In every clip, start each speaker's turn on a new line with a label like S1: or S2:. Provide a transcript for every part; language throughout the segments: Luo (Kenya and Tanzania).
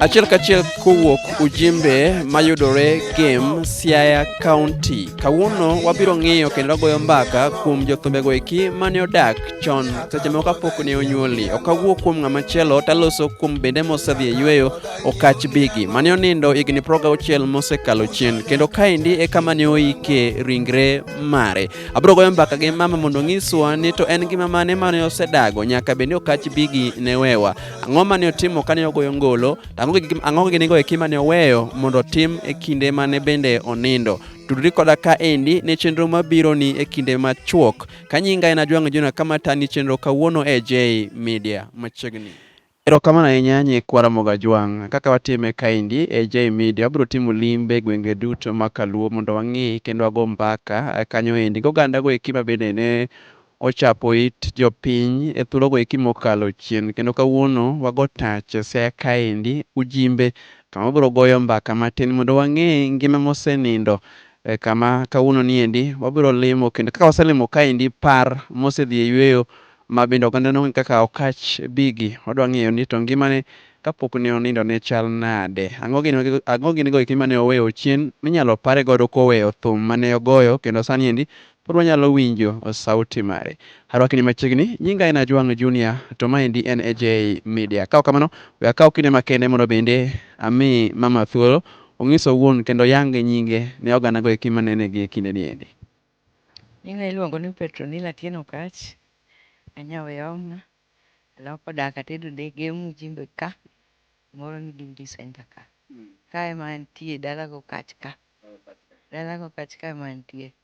S1: Achiel kachiel kowuok Ujimbe mayudore Gem, Siaya County. Kawuono wabiro ng'iyo kendo wagoyo mbaka kuom jothumbego eki mane odak chon seche moko kapok ne onyuoli. Ok awuo kuom ng'ama chielo taloso kuom bende mosedhi e yueyo Okach Bigi mane onindo higni proga auchiel mosekalo chien kendo kaendi e kama ne oike ringre mare. Abiro goyo mbaka gi mama mondo onyiswa ni to en ngima mane mane osedago nyaka bende Okach Bigi ne wewa. Ang'o ma ne otimo ka ne ogoyo ngolo? Ang'o gini go eki ma ne oweyo mondo otim e kinde ma ne bende onindo? tudri koda ka endi ne chenro mabiro ni e kinde machuok ka nyinga en ajwang' jona kama tani chenro kawuono e j media machiegni Erokamano ahinya nyikwa Ramogi Ajwang'. Kaka watime kaendi e J Media, wabiro timo limbe gwenge duto ma Kaluo mondo wang'i kendo wago mbaka eh, kanyo endi gogandago eki ma bende ne Ochapo it jopiny e thuologo eki mokalo chien kendo kawuono wago tach e Siaya kaendi, Ujimbe, kama wabiro goyo mbaka matin mondo wang'e ngima mosenindo e kama kawuono niendi wabiro limo kendo kaka waselimo kaendi par mosedhi e yueyo ma bende oganda nong'e kaka Okatch Biggy wadwa ng'eyo ni to ngimane kapok ne onindo ne chal nade, ang'o gin go eki mane oweyo chien minyalo pare godo koweyo thum mane ogoyo kendo sani endi Pod wanyalo winjo sauti mari. Arwakni machiegni. Nyinga en Ajwang' Junior to maendi en AJ Media. Ka ok kamano, we akaw kinde makende mondo bende ami mama thuolo ong'is owuon kendo oyang nyinge ne oganago eki manene gie kindeni endi. Nyinga
S2: iluongo ni Petronila Atieno Okatch. An Nyaweong'a. Aloko dak atedo dege Mujimbe ka. Moro ni Gimbi Centre ka. Ka ema antie, dalaga Okatch ka. Dalaga Okatch ka ema antie.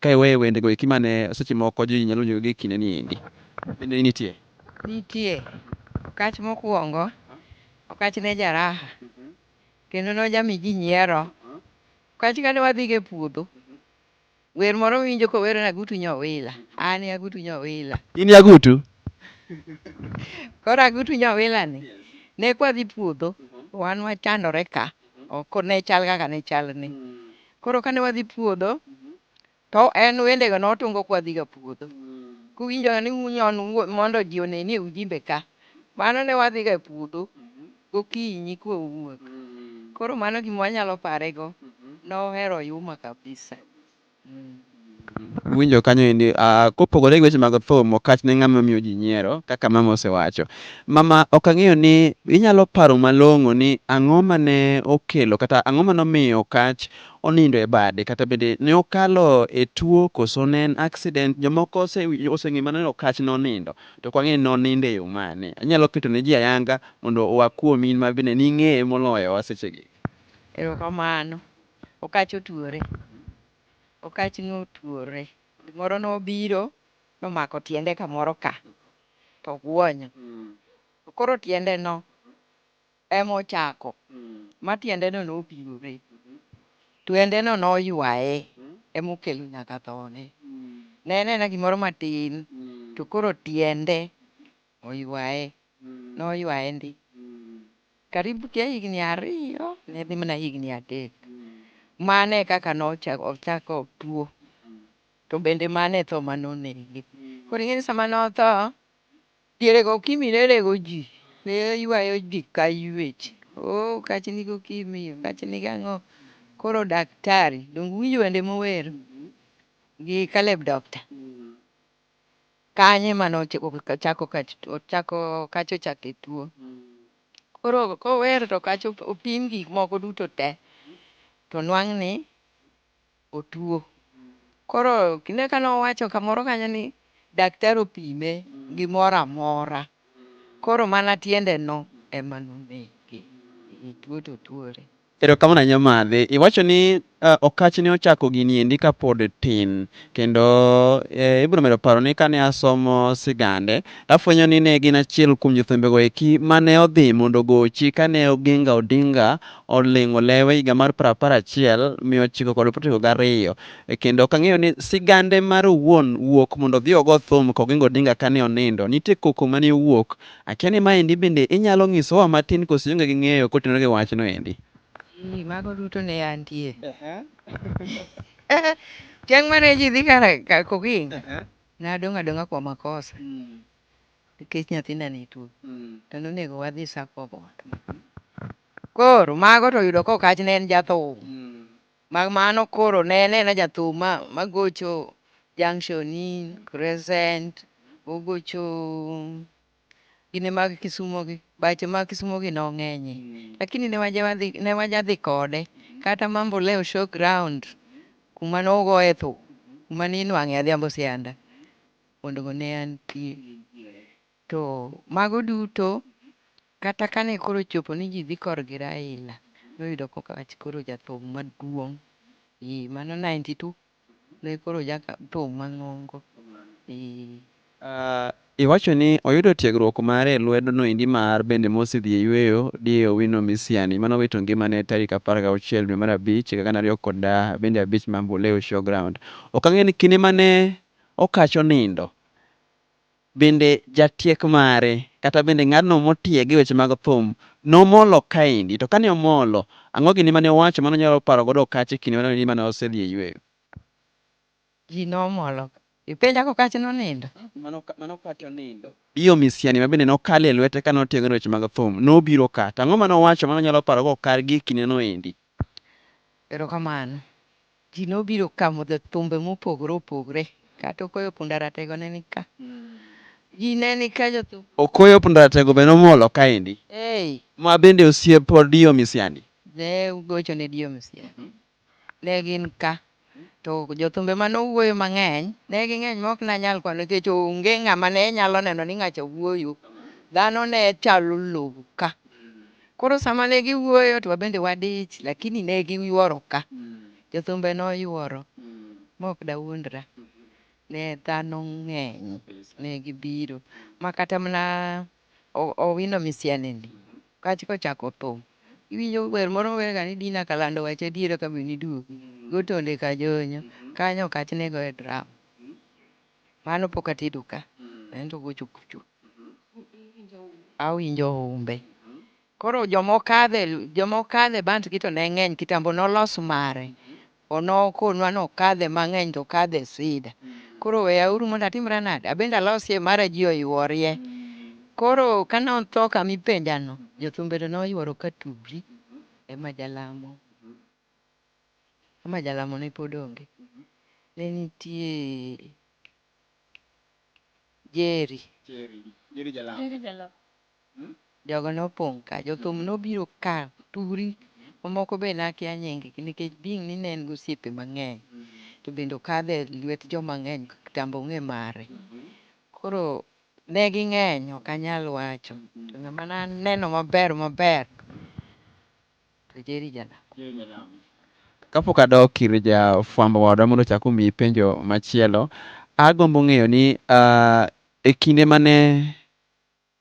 S1: Ka iweyo wende go eki ma ne seche moko ji nyalo winjo ga gi e kinde ni endi, bende ni nitie? Nitie.
S2: Okach mokuongo, Okach ne ja raha kendo ne oja mi ji nyiero. Okach kane wadhi go e puodho, wer moro mi winjo ko wero ni Agutu Nyowila, an e Agutu Nyowila. In e Agutu? Koro Agutu Nyowila ni ne kwa dhi puodho, wan wachandore ka, ok ne chal kaka ne chal ni. Koro kane wadhi puodho to en wendego notungo kwadhiga puodho kuwinjoga ni unyon mondo ji one ni ujimbe ka. Mano ne wadhiga e puodho gokinyi kwawuok. Koro mano gima wanyalo parego. Nohero Oyuma kabisa.
S1: Iwinjo kanyo endi, kopogore gi weche mag thum, ok achne ng'ama miyo ji nyiero kaka mama osewacho. Mama ok ang'eyo ni inyalo paro malong'o ni ang'o mane okelo kata ang'o mane omiyo Okatch onindo e bade kata bende ne okalo e tuo koso ne en accident. Jomoko oseng'eyo mana ni Okatch nonindo to ok wang'eyo ni nonindo e yo mane. Inyalo keto ne ji ayanga mondo oa kuomi in ma bende ning'eye moloyowa sechegi. Erokamano.
S2: Okatch otuore. Okach notuore, gimoro nobiro nomako tiende kamoro ka to oguonyo. To koro tiendeno ema ochako ma tiendeno nopirore. Tiendeno noywaye ema okelo nyaka thone. Ne en aena gimoro matin to koro tiende oywaye, noywaye ndi karibu ja higni ariyo ne dhi mana higni adek. Mano e kaka nochako tuo to bende mano e tho ma nonege. Koro ing'e ni sama notho, diere go Okimi ne rego ji, ne ywayo ji ka ywech. Oh, kach ni gi Okimi, kach ni gi ang'o. Koro daktari, donge uwinjo wende mowero gi Caleb Doctor? kanye mane ochako okacha ochake tuo. Koro kower to okacha opim gik moko duto te to nwang' ni otuo. Koro kinde kane owacho kamoro kanyo ni daktari opime gimoro amora koro mana tiende no ema nonege. Tuo to tuore. Erokamano
S1: ahinya Madhi. Iwacho ni Okatch ne ochako gini endi ka pod tin. Kendo ibiro medo paro ni kane asomo sigande, to afwenyo ni ne gin achiel kuom jothumbe go eki mane odhi mondo ogochi kane Oginga Odinga olingo lewe higa mar piero apar achiel, mia ochiko kod piero ochiko gariyo. Kendo ok ang'eyo ni sigande mare owuon wuok mondo odhi ogo thum ka Oginga Odinga kane onindo. Nitie koko mane owuok Akia ni maendi bende inyalo ng'isowa matin koso ionge gi ng'eyo kotenore gi wachno endi? Eeh, mago
S2: duto ne antie. Chieng' mane ji dhi kar kokinga, nadong' adong'a kwa makosa nikech nyathinda ne tuo to nonego wadhi sako oboke. Koro mago to oyudo kokach ne en jathum. Mak mano koro ne anena jathum ma ma gocho junction in crescent ogocho gine mag kisumo gi bache mag kisumo gi nong'enye lakini ne waja wadhi ne waja dhi kode kata mambo leo show ground kuma nogoye thum kuma ninwang'e adhiambo sianda mondo go ne antie To mago duto kata kane koro ochopo ni ji dhi kor gi Raila, noyudo koka wach koro jathum maduong'. Eeh, mano ninety two ne koro jathum mang'ongo. Eeh.
S1: Uh, iwacho ni oyudo tiegruok mare e lwedo no endi mar bende Mosi dhi e yweyo di Owino Misiani mane owito ngimane tarik apar gauchiel dwe mar abich higa gana ariyo kod bende abich Mamboleo Showground. Ok ang'e ni kinde mane Okach onindo. Bende jatiek mare, kata bende ng'adno motieg e weche mag thum, nomolo kaendi? To kane omolo, ang'o gini mane owacho mane onyalo paro godo Okatch e kinde mane ondi mane osedhi e yueyo?
S2: Ji nomolo ka. Ipenja ka Okatch nonindo? Mane Okatch
S1: onindo. Dio Misiani ma bende nokalo e lwete kane otiegore e weche mag thum, nobiro ka. To ang'o mane owacho mane onyalo paro go Okatch gie kindeno endi?
S2: Erokamano. Ji nobiro ka modho thumbe mopogore opogre kata Okoyo Punda Ratego ne ni ka. Ji ne ni ka jothum. Okoyo Punda Ratego
S1: be nomolo kaendi. Hey. Ma bende osiep Dio Misiani. Ne ugocho
S2: ne Dio Misiani. Ne gin ka. To jothumbe mane owuoyo mang'eny ne ging'eny ma ok nanyal kwano nikech onge ng'ama ne nyalo neno ni ng'acha wuoyo. Dhano ne chalo lowo ka. Koro sama ne giwuoyo to wabende wadich lakini ne giyuoro ka jothumbe noyuoro maok dawuondra ne dhano ng'eny ne gibiro ma kata mana Owino Misianeni kach kochako thum iwinjo wer moro owerga ni Dina Kalando wacha adiera ka be niduogi go Tonde Kajonyo kanyo okach ne goye drum. Mano pok atedo ka ento gocho kucho awinjo humbe. Koro joma okadhe joma okadhe bant gi to ne ng'eny kitambo nolos mare onokonwa ni okadhe mang'eny to okadhe sida. Koro weya uru mondo atimra nade abende alosie mara ji oyworie. Koro kane otho kama ipenja no jothumbe to noyuoro ka tugri ema jalamo. ama jalamo ne pod onge, ne nitie Jerry. Jogo nopong' ka, jothum nobiro ka turi, ma moko be nakia nying gi nikech being ni ne en gi osiepe mang'eny to bende okadho e lwet joma ng'eny ka kitambo ong'e mare. Koro ne ging'eny ok anyal wacho, to ng'ama naneno maber maber to Jerry Janam. Kapok
S1: adok ir ja fwambo wadwa mondo ochak omiyi penjo machielo, agombo ng'eyo ni e kinde mane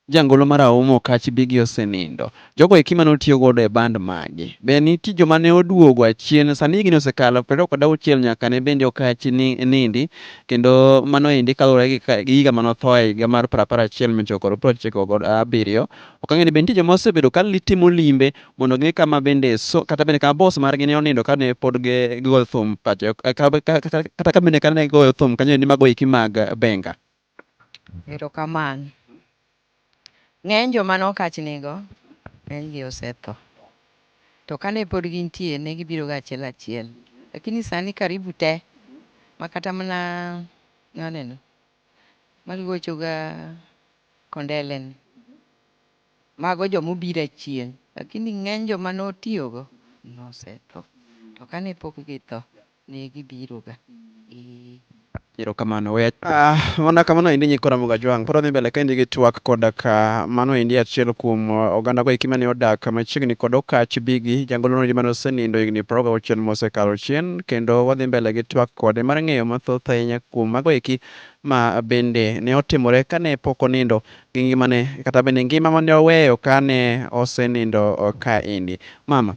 S1: jangolo mar Auma Okatch bigi osenindo, jogo eki mane otiyo godo e band magi, be nitie joma ne oduogo achien? Sani higni osekalo piero ariyo kod auchiel nyaka ne bende Okatch nindi, kendo mano endi kaluwore gi higa mane othoe, higa mar piero apar achiel mia ochiko kod piero ochiko kod abiriyo. Ok ang'e ni be nitie joma osebedo ka timo limbe mondo ging'e kama bende so kata bende kama boss margi ne onindo kane pod gi gigoyo thum pacho kata ka bende kane gigoyo thum kanyo endi mago eki mag Benga.
S2: Erokamano. Ng'eny joma nokach nigo, ng'enygi osetho. To kane pod gintie ne gibiroga achiel achiel. Lakini sani karibu te makata mana ng'aneno maluochoga kondeleni, mago joma obiro achien lakini ng'eny joma notiyogo nosetho to kane pok githo ne gibiroga.
S1: Erokamano. We achop. Mana kamano endi Nyikwa Ramogi Ajwang'. Pod wadhi mbele kaendi gi twak koda ka mano endi achiel kuom ogandago eki mane odak machiegni kod Okach Biggie, jangolono endi mane osenindo higni piero ariyo gauchiel mosekalo chien. kendo wadhi mbele gi twak kode mar ng'eyo mathoth ahinya kuom mago eki ma bende ne otimore kane pok onindo gi ngimane kata bende ngima mane oweyo kane osenindo ka endi. Mama,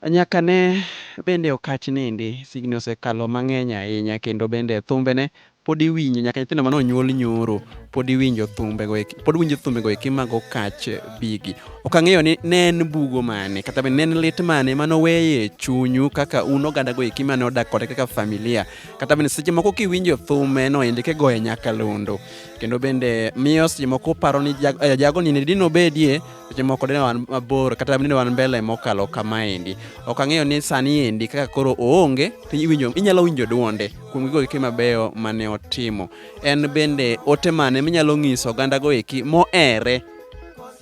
S1: nyaka ne bende okach nindi, signi osekalo mang'eny ahinya kendo bende thumbene Pod iwinjo nyaka nyithindo mane onyuol nyoro pod iwinjo thumbe go pod winjo thumbe go eki mago kach bigi. Ok ang'eyo ni ne en bugo mane kata be ne en lit mane mane oweye chunyu kaka un oganda go eki mane odak kode kaka familia kata bende seche moko kiwinjo thume no ende kigoye nyakalondo kendo bende miyo seche moko paro ni jago, eh, jago ni dine obedie seche moko dine wan mabor kata dine wan mbele mokalo kamaendi. Ok ang'eyo ni sani endi kaka koro oonge to iwinjo inyalo winjo duonde kuom gigo eki mabeyo mane otimo. En bende ote mane minyalo ng'iso oganda go eki mohere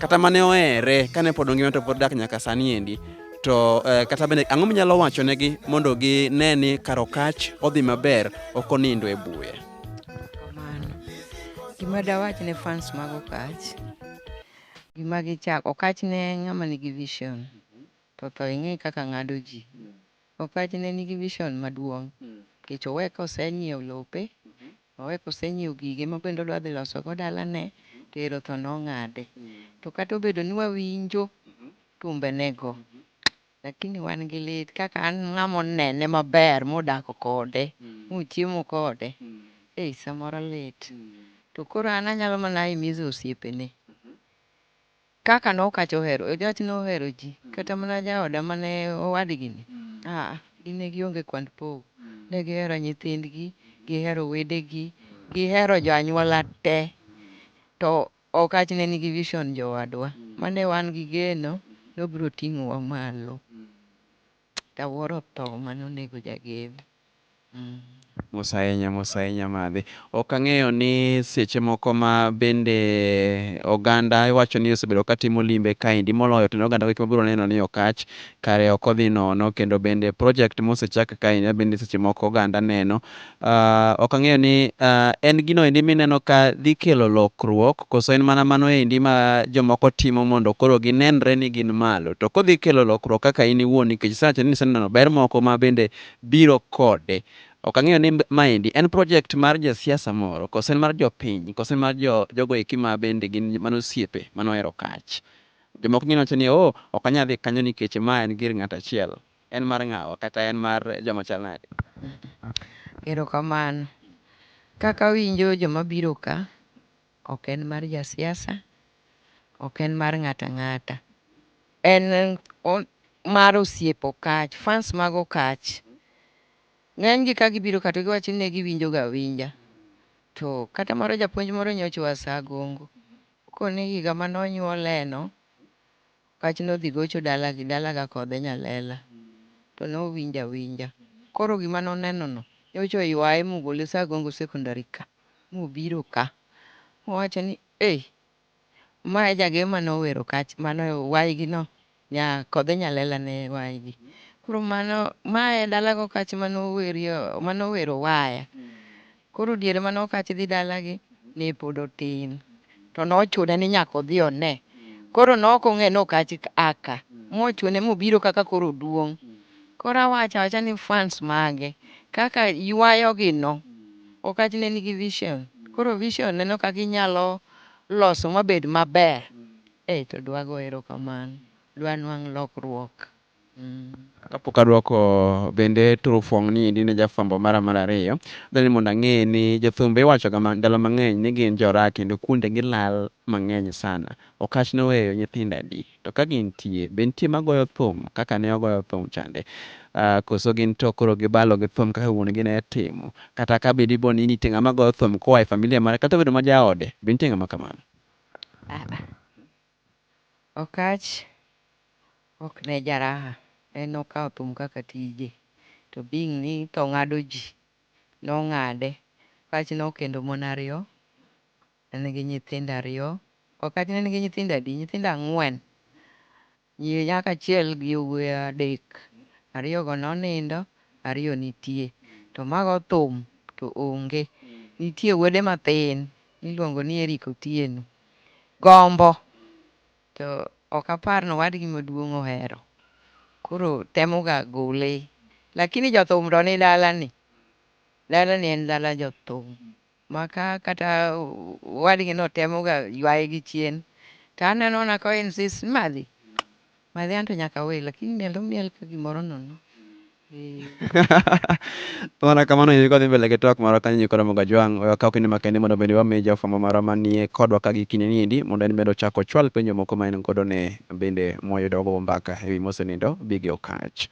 S1: kata mane ohere kane pod ongima to pod dak nyaka sani endi to eh, kata bende ang'o minyalo wacho negi mondo gine ni karokach odhi maber ok onindo e buya kamano
S2: gima dawach ne fans mag okach gima gichak okach ne ng'ama nigi vision to tho ing'e kaka ng'ado ji Okatch ne nigi vision maduong' nikech owe ka osenyiewo lope, owe ka osenyiewo gige ma bende odwa dhi loso go dalane to ero tho nong'ade. To kata obedo ni wawinjo tumbenego, lakini wan gi lit kaka an ng'ama onene maber modak kode, mochiemo kode, ei samoro lit. To koro an anyalo mana himizo osiepene. Kaka nokacha ohero, ojach nohero ji, kata mana jaoda mane owadgini, aa, gin ne gionge kwand pogo. Ne gihero nyithindgi, gihero wedegi, gihero jo anyuola te. To Okach ne nigi vision jowadwa, mane wan gi geno nobiro ting'owa malo. Kawuoro tho mane onego jagen mm.
S1: Mos ahinya mos ahinya madhi. Ok ang'eyo ni seche moko ma bende oganda iwacho ni osebedo ka timo limbe kaendi moloyo to ne oganda eki mabiro neno ni Okatch kare ok odhi nono kendo bende project mosechak kaendi mabende seche moko oganda neno Ok ang'eyo ni en gino endi mineno ka dhi kelo lokruok koso en mana mano endi ma jomoko timo mondo koro ginenre ni gin malo. To kodhi kelo lokruok kaka in iwuon nikech isewacho ni iseneno ber moko ma bende biro kode. Ok ang'eyo ni maendi en project mar jasiasa moro koso en mar jopiny koso en mar jogo eki ma bende gin mana osiepe mane ohero kach. Jomoko nyalo wacho ni oh ok anyal dhi kanyo nikech ma en gir ng'ato achiel. En mar ng'awa, kata en mar joma chal nade? Erokamano.
S2: Kaka awinjo joma biro ka, ok en mar jasiasa, ok en mar ng'ato ang'ata. En mar osiep Okach, fans mag Okach. Ng'enygi ka gibiro ka to giwacho ni ne giwinjo ga awinja. To kata moro japuonj moro nyocha oa Sagongo, koni higa mane onyuoleno, Kach nodhi gocho dala gi dala ga kode nyalela to nowinjo awinja. Koro gima nonenono nyocha oywaye mogole Sagongo Secondary ka mobiro ka mowacho ni eeh ma e jageyo mane owero kach mane waygi no nya kode nyalela ne waygi koro mano ma e dalago kach mane owerie mane owero waya Koro diere mane Okatch dhi dalagi ne pod otin to nochune ni nyaka odhi one. Koro ne ok ong'eyo ni Okatch a ka. Mochune mobiro kaka koro oduong'. Koro awacho awacha ni fans mage kaka ywayogi no. Okatch ne nigi vision. Koro vision ne no kaka inyalo loso mabed maber. Ei to dwago erokamano. Dwanwang' lokruok.
S1: Kapok adwoko bende turo fuong' ni endi ne jafwambo mara mar ariyo, adwa ni mondo ang'e ni jothumbe iwachoga ma ndalo mang'eny ni gin jorak kendo kuonde gilal mang'eny sana. Okatch noweyo nyithindo adi? To ka gintie, be nitie magoyo thum kaka ne ogoyo thum chande? Koso gin to koro gibalo gi thum kaka wuon gi ne timo? Kata ka bedi bo ni nitie ng'ama goyo thum koa e familia mare kata obedo ma jaode, be nitie ng'ama kamano?
S2: Okatch ok ne jaraha en nokawo thum kaka tije to being ni tho ng'ado ji nong'ade. Okatch nokendo mon ariyo en gi nyithindo ariyo. Okatch ne en gi nyithindo adi? Nyithindo ang'wen. Nyiri nyako achiel gi yowuoyi adek. Ariyogo nonindo, ariyo nitie to mago thum to onge. Nitie wuode mathin miluongo ni Eric Otieno Gombo. To ok apar ni owadgi maduong' ohero. Koro temo ga gole. Lakini jothum to ni dala ni. Dala ni en dala jothum. Ma ka kata owadgi no temo ga ywaye gi chien. To aneno mana ka o insist ni madhi. Madhi anto nyaka awe. Lakini miel to omiel ka gimoro nono.
S1: Mana kamano nyiri kodhi mbele gi twak marwa kanyo nyiri koromo ga jwang'. We wakaw kinde makendi mondo bende wami jafwambo marwa manie kodwa ka gi kinde niendi mondo en bende ochak ochwal penjo moko ma en godo ne bende mwayudo wagogo mbaka ewi mosenindo bi gi Okatch.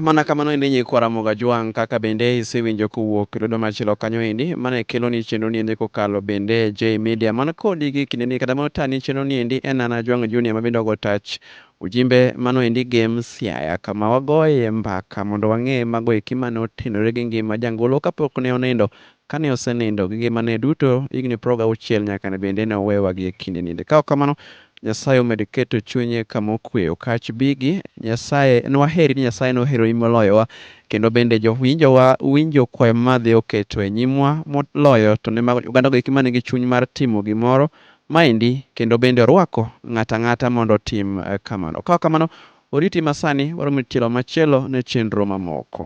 S1: Mana kamano endi nyiri kwaramo ga jwang' kaka bende isewinjo kowuok e lwedo machielo kanyo endi. Mano e kelo ni chenro niendi kokalo bende Jay Media man kodi gi kindeni kata mano tani chenro niendi en an Ajwang' Junior ma bende ogo tach Ujimbe mano endi game Siaya kama wagoye mbaka mondo wang'e mago eki mane otenore gi ngima jangolo kapok ne onindo, kane osenindo gi ngimane duto higni piero gauchiel nyaka ne bende ne owewa gi ekinde niende. Kaok kamano Nyasaye omed keto chunye kama okwe okach bigi Nyasaye en waheri ni Nyasaye noheroi moloyowa kendo bende jowinjowa winjo kwayo madhi oketo enyimwa moloyo to ne mago oganda go eki manigi chuny mar timo gimoro Maendi, kendo bende orwako ng'ato ang'ata mondo otim kamano. Ka ok kamano, oriti masani, waromo tielo machielo ne chenro mamoko.